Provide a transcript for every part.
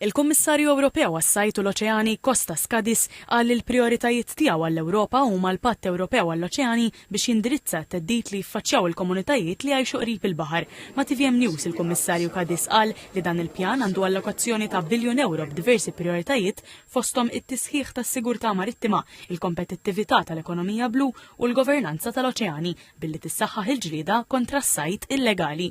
Il-Kummissarju Ewropew għas-Sajd u l-Oċeani, Kostas Skadis, qal li l-prijoritajiet tiegħu għall-Ewropa huma l-Patt Ewropew għall-Oċeani biex jindirizza t-theddid li jiffaċċjaw il-komunitajiet li jgħixu qrib il-baħar. Ma' tvm News il-Kummissarju Kadis qal li dan il-pjan għandu allokazzjoni ta' biljun ewro b'diversi prijoritajiet fosthom it-tisħiħ tas-sigurtà marittima, il-kompetittività tal-ekonomija blu u l-governanza tal-oċeani billi tissaħħaħ il-ġlieda kontra s-sajd illegali.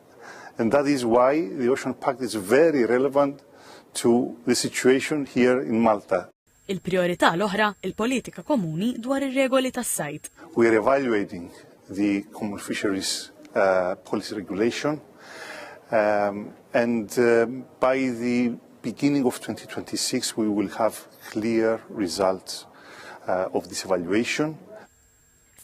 And that is why the Ocean Pact is very relevant to the situation here in Malta. Il-priorità l-oħra, il-politika komuni dwar ir-regoli tas-sajd. We are evaluating the Common Fisheries uh, Policy Regulation um, and uh, by the beginning of 2026 we will have clear results uh, of this evaluation.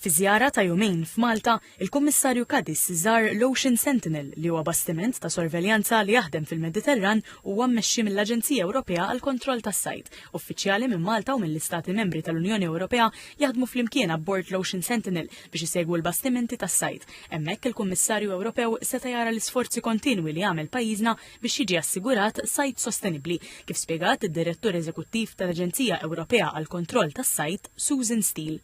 Fi żjara ta' jumejn f'Malta, il-Kummissarju Cadiz żar l-Ocean Sentinel, li huwa bastiment ta' sorveljanza li jaħdem fil-Mediterran u huwa mmexxi mill-Aġenzija Ewropea għall-Kontroll tas-Sajd. Uffiċjali minn Malta u mill-Istati Membri tal-Unjoni Ewropea jaħdmu flimkien abbord l-Ocean Sentinel biex isegwu l-bastimenti tas-sajd. Hemmhekk il-Kummissarju Ewropew seta' jara l-isforzi kontinwi li jagħmel pajjiżna biex jiġi assigurat sajd sostenibbli, kif spjegat id-Direttur Eżekuttiv tal-Aġenzija Ewropea għall-Kontroll tas-Sajd, Susan Steele.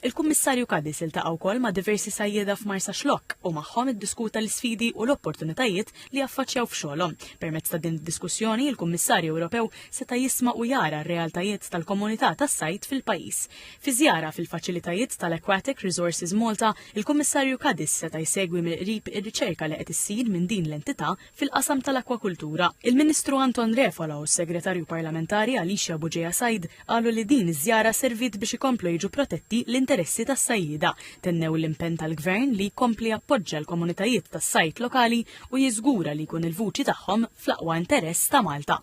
Il-Kummissarju Cadiz iltaqa' wkoll ma' diversi sajjieda f'Marsaxlokk u magħhom iddiskuta l-isfidi u l-opportunitajiet li jaffaċċjaw f'xogħolhom. Permezz ta' din id-diskussjoni, il-Kummissarju Ewropew seta' jisma' u jara r-realtajiet tal-komunità tas-sajd fil-pajjiż. Fi żjara fil-faċilitajiet tal-Aquatic Resources Malta, il-Kummissarju Cadiz seta' jsegwi mill-qrib ir-riċerka li qed issir minn din l-entità fil-qasam tal-akkwakultura. Il-Ministru Anton Refalo u s-Segretarju Parlamentari Alicia Buġeja Said qalu li din iż-żjara serviet biex ikomplu jiġu protetti l-interessi tas-sajjieda. Tennew l-impenn tal-Gvern li jkompli jappoġġja l-komunitajiet tas-sajd lokali u jiżgura li jkun il-vuċi tagħhom fl-aqwa interess ta' Malta.